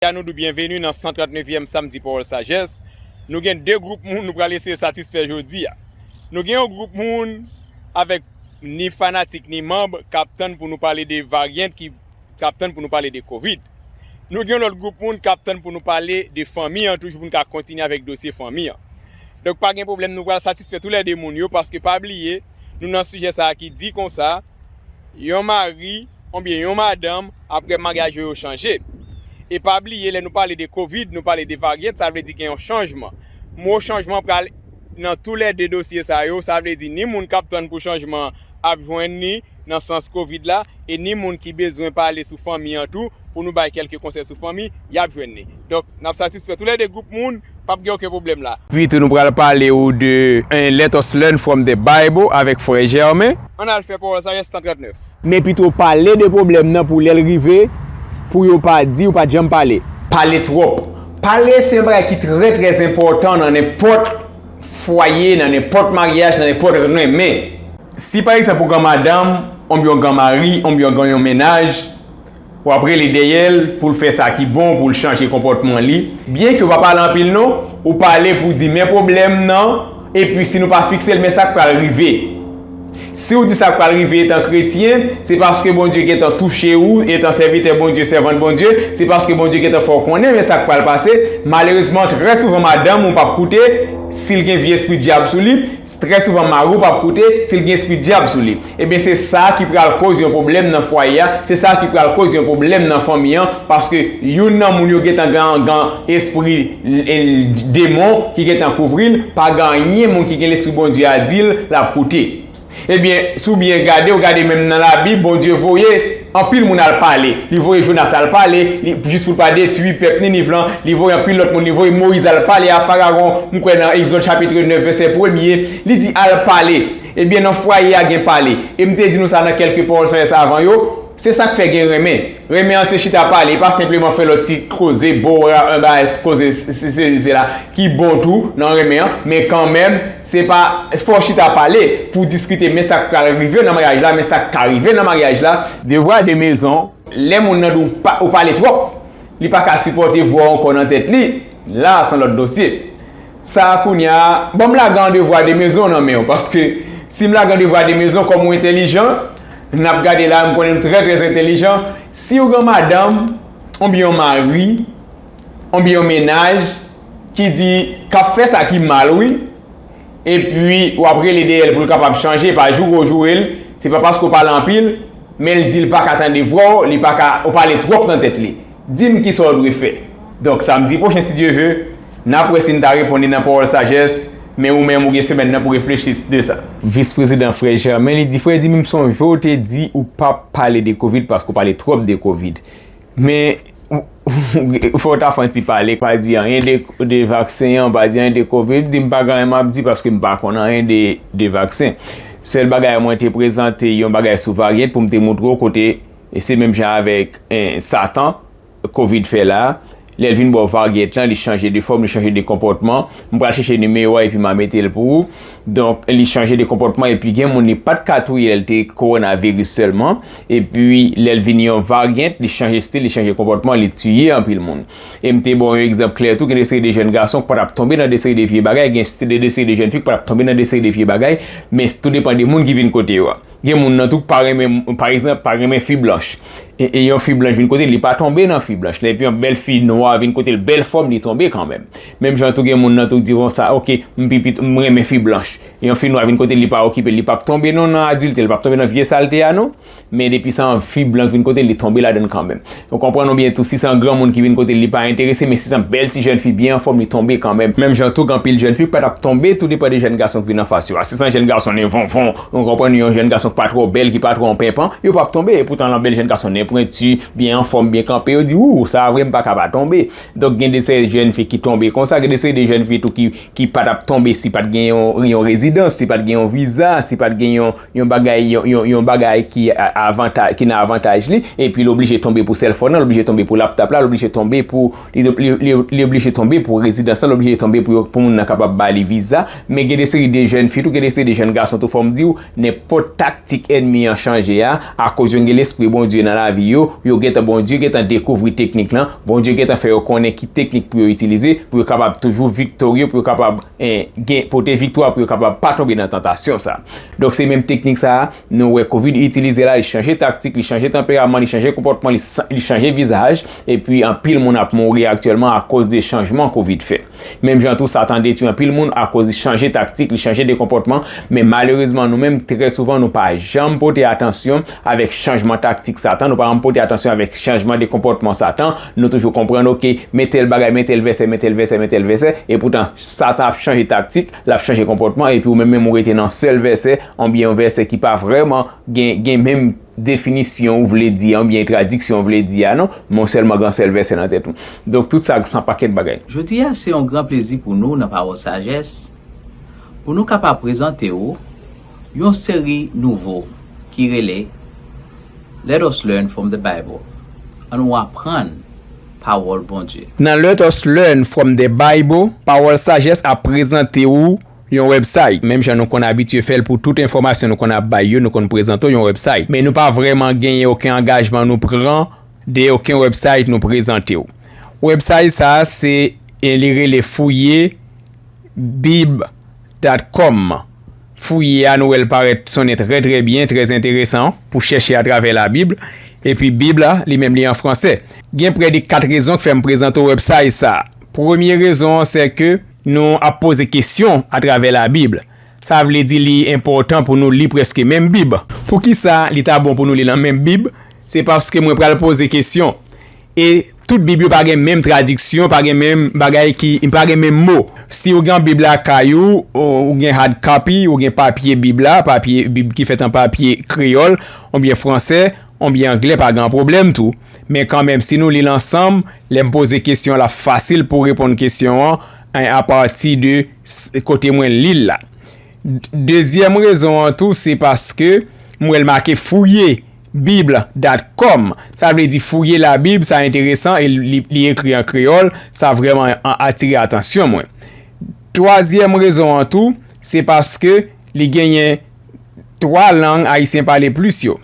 Jodia nou di w byenveni nan 139 yèm Samdi Pawòl Sajès. Nou gen 2 gwoup moun nou pral eseye satisfè jodia. Nou gen yon gwoup moun avèk ni fanatik ni manb k ap tann pou nou pale de varyant ki k ap tann pou nou pale de kovid. Nou gen yon lòt gwoup moun k ap tann pou nou pale de fanmi an toujou pou nou ka kontinye avèk dosye fanmi an. Donk pa gen pwoblèm nou pral satisfè tou lè 2 moun yo paske pa bliye nou nan sijè sa ki di konsa. yon mari oubyen yon madanm aprè maryaj yo yo chanje. E pa bliye lè nou pale de covid, nou pale de varyant sa vle di gen yon chanjman. Mo chanjman pral nan tou lè 2 dosye sa yo, sa vle di ni moun kap tann pou chanjman an ap jwenn ni nan sans covid la e ni moun ki bezwen pale sou fanmi an tou pou nou bay kèlke konsèy sou fanmi yap jwenn ni. Donk, n ap satisfè tou lè de gwoup moun, p ap gen oken pwoblèm la. Pi tou nou pral pale ou de 1 Let us learn from the Bible avèk frè Germain. An n al fè Pawòl Sajès, Stan 39. Men pito pale de pwoblèm nan pou lè l rive, pou yo pa di ou pa t janm pale. Pale twòp. Pale se yon bagay ki trè trè enpòtan nan nenpòt fwaye, nan nenpòt maryaj, nan nenpòt renmen. Si pa egzanp ou gan madanm, oubyen ou gan mari, oubyen ou gan yon mennaj, W ap rele dèyè l pou l fè sa ki bon, pou l chanje konpòtman li. Byenke w pa pale anpil non, ou pale pou w di men pwoblèm nan, epi si nou pa fikse l men sa k pral rive. Si w di sa k pral rive etan kretyen, se paske Bondye gentan touche ou, etan sèvitè Bondye, sèvant Bondye, se paske Bondye gentan fè w konnen men sa k pral pase, malerezman trè souvan madanm ou p ap koute, si l gen vye espri dyab sou li, Trè souvan mari w pap koute si l gen espri dyab sou li. Ebyen se sa ki pral koz yon pwoblèm nan fwaye a, se sa ki pral koz yon pwoblèm nan fanmi an paske youn nan moun yo gentan gan espri demon ki gentan kouvri l, pa gen anyen moun ki gen lespri Bondye a di l lap koute. Ebyen si w byen gade w gade menm nan labib Bondye voye. Anpil moun al pale. Li voye Jonas al pale, li, jis pou l pa detwi pèp Niniv lan. Li voye anpil lòt moun. Li voye Moyiz al pale a Farawon. M kwè nan Egzòd chapitre 9 vèsè premye, li di, Al pale. Ebyen, nan fwaye a gen pale. E m te di nou sa nan kèlke Pawòl Sajès avan yo, se sa k fè gen renmen. Renmen an se chita pale, e pa senpleman fè lòt ti koze, bo ra, 1 bagay, koze sesi sela, ki bon tou nan renmen an, men kanmenm, Se pa fò chita pale pou diskite men sak pral rive nan maryaj la, men sak ka rive nan maryaj la. Devwa de mezon, Lè moun nan di w ou pale twòp, li pa ka sipòte vwa w ankò nan tèt li, la a son lòt dosye. Sa a kounya, ban m lage an devwa de mezon nan men w paske si m lage an devwa de mezon kòm ou entelijan, n ap gade la a m konnen m trè trè entelijan, si w gen yon madanm oubyen yon mari oubyen yon mennaj, ki di kap fè sa ki mal wi epi wap rele deyèl poul kapab chanje pa joure ou jourel se pa paske ou pale anpil menl dil paka tande vwaw li paka ou pale twòp nan tèt li dim kisaw dwe fè donk samdi pwochen si Dye ve nap wè sin ta reponn li nan pawòl sajès men ou menm ou gen semèn nan pou reflechi de sa. Vis prezidan frè Germain li di frè jimmy m sonjew te di ou pap pale de kovid paske ou pale twòp de kovid Men, fò w ta fè yon ti pale, pa di anyen de vaksen an, pa di anyen de covid, di m pa gen anyen m ap di paske m pa konn anyen de vaksen. Sèl bagay mwen te prezante yon bagay sou varyant pou m te moutre w kote se menm jan avèk satan covid fè la, lè l vin ba w varyant lan li chanje de fòm, li chanje de konpòtman, m pral chèche nimewo a epi m a mete l pou ou. Donk li chanje de konpòtman epi gen moun li pat ka touye lè li te kowonaviris sèlman epi lè li vin yon varyant li chanje stil, li chanje konpòtman li tiye anpil moun. E m te ba w yon egzanp klè tou gen de seri de jèn gason ki pa t ap tonbe nan de seri de vye bagay gen de seri de jèn fi ki pa t ap tonbe nan de seri de vye bagay men tou depan de moun ki vin kote yo a. Gen moun nan tou ki pa renmen pa egzanp pa renmen fi blanch e yon fi blanch vin kote l li pa tonbe nan fi blanch la epi yon bèl fi nwa vin kote l bèl fòm li tonbe kanmenm. Menm jan tou gen moun nan tou di bon sa ok m pi pit m renmen fi blanch yon fi nwa vin kote li pa okipe li pap tonbe non nan adilte li pap tonbe nan vye salte a non men depi se yon fi blan ki vin kote li tonbe ladann kanmenm ou konprann ou byen tou si se yon granmoun ki vin kote li pa enterese men si se yon bèl ti jèn fi byen anfòm li tonbe kanmenm menm jan tou gen anpil jèn fi ki pa tap tonbe tou depan de jèn gason ki vin anfas yo a si se yon jèn gason nen vonvon ou konprann yon jèn gason ki pa twò bèl ki pa twò penpan yo pap tonbe epoutan lè yon bèl jèn gason nen pwenti byen anfòm byen kanpe yo di wouw sa a vre m paka pa tonbe Donk gen de seri jèn fi ki tonbe konsa, gen de seri de jèn fi tou ki pa t ap tonbe si pa t gen yon rezidans, si pa t gen yon viza, si pa t gen yon bagay, yon bagay ki nan avantaj li, epi li oblije tonbe pou sèlfòn nan, li oblije tonbe pou laptap la, li oblije tonbe pou, li oblije tonbe pou rezidans la, li oblije tonbe pou moun nan kapab ba li viza. Men gen de seri de jèn fi tou, gen de seri de jèn gason tou fò m di w, Nenpòt taktik ènmi an chanje a, akoz yo gen Lespri Bondye nan lavi yo, yo gentan Bondye gentan dekouvri teknik lan, Bondye gentan fè yo konnen ki teknik pou yo itilize, pou yo kapab toujou viktorye, pou yo kapab gen pote viktwa, pou yo kapab pa tonbe nan tantasyon sa. Donk se menm teknik sa a, nou wè covid itilize la, li chanje taktik, li chanje tanperaman, li chanje konpòtman, li chanje vizaj, epi anpil moun ap mouri aktyèlman akoz de chanjman covid fè. Menm jan tou Satan detwi anpil moun akoz li chanje taktik, li chanje de konpòtman, men malerezman nou menm trè souvan nou pa janm pote atansyon avèk chanjman taktik Satan, nou pa janm pote atansyon avèk chanjman de konpòtman Satan, nou toujou konprann ok men tèl bagay, men tèl vèsè, men tèl vèsè, men tèl vèsè, epoutan Satan ap chanje taktik, lap chanje konpòtman epi ou menm menm ou rete nan sèl vèsè, oubyen yon vèsè ki pa vrèman gen menm. definisyon ou vle di an, oubyen tradiksyon ou vle di a non, men w sèlman gen yon sèl vèsè nan tèt ou. Donk tout sa san pakèt bagay. Jodi a se yon gran plezi pou nou nan Pawòl Sajès pou nou kapab prezante ou yon seri nouvo ki rele Let us learn from the Bible, An nou aprann Pawòl Bondye. Nan Let us learn from the Bible, Pawòl Sajès ap prezante ou Yon website, menm jan nou konn abitye fè l pou tout enfòmasyon nou konn ap bay yo, nou konn prezante w yon website. Men nou pa vrèman genyen oken angajman nou pran dèyè oken website nou prezante w. Website sa a se e li rele fouye bib dat kòm. Fouye a nou wè l parèt sonnen trè trè byen, trè enteresan pou chèche atravè labib. Epi bib la, li menm li an fransè. Gen prè de 4 rezon k fè m prezante w website sa a. Premye rezon an sè ke Nou ap poze kesyon atravè Labib. Sa vle di li enpòtan pou nou li prèske menm Bib. Poukisa li ta bon pou nou li nan menm Bib? Se paske mwen pral poze kesyon. E tout Bib yo pa gen menm tradiksyon, pa gen menm bagay ki, pa gen menm mo. Si ou gen yon Bib lakay ou, ou gen hard copy, ou gen papye Bib la, papye Bib ki fèt an papye kreyòl oubyen fransè, On bgy anglè pa gan pwoblèm tou, men kanmenm si nou lil ansanm, lèm poze kesyon lap fasil pou reponn kesyon an en a pati de kote mwen lil la. Dezyèm rezon an tou se paske m wèl make fouye bible dat com sa vle di fouye la bib sa enteresan e li ekri an kreyòl sa vrèman atire atansyon mwen. Twazyèm rezon an tou se paske li genyen 3 lang ayisyen pale plis yo.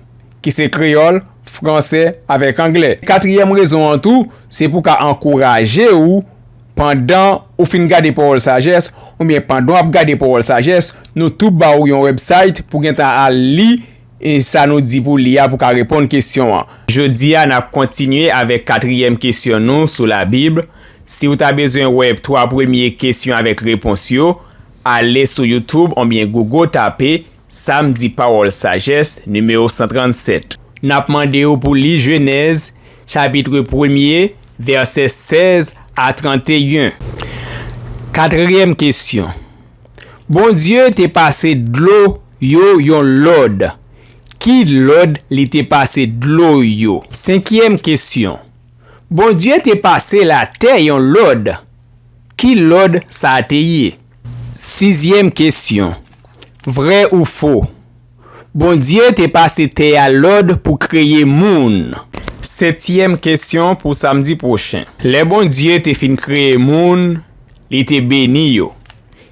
ki se kreyòl, fransè avèk anglè. Katriyèm rezon an tou, se pou ka ankouraje ou pandan ou fin gade Pawòl Sajès oubyen pandan w ap gade Pawòl Sajès, nou tou ba ou yon wèbsite pou gentan al li e sa nou di pou li a pou ka reponn kesyon an. Jodi a n ap kontinye avèk katriyèm kesyon nou sou Labib. Si ou ta bezwen wè twa premye kesyon avèk repons yo, ale sou YouTube onbyen Google tape. Samdi Pawòl Sajès, nimewo 137. N ap mande ou pou li Jenèz chapitre premye, vèsè 16 a 31. Katryèm kesyon, Bondye te pase dlo yo yon lòd. Ki lòd li te pase dlo yo? Senkyèm kesyon, Bondye te pase latè yon lòd. Ki lòd sa te ye? Sizyèm kesyon, Vrè ou fo? Bondye te pase tè a lòd pou kreye moun. Setyèm kesyon pou samdi pwochen. Lè Bondye te fin kreye moun, li te beni yo,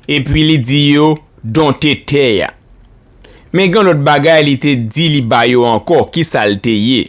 epi li di yo donte tè a. Men gen lòt bagay li te di li ba yo ankò, kisa l te ye?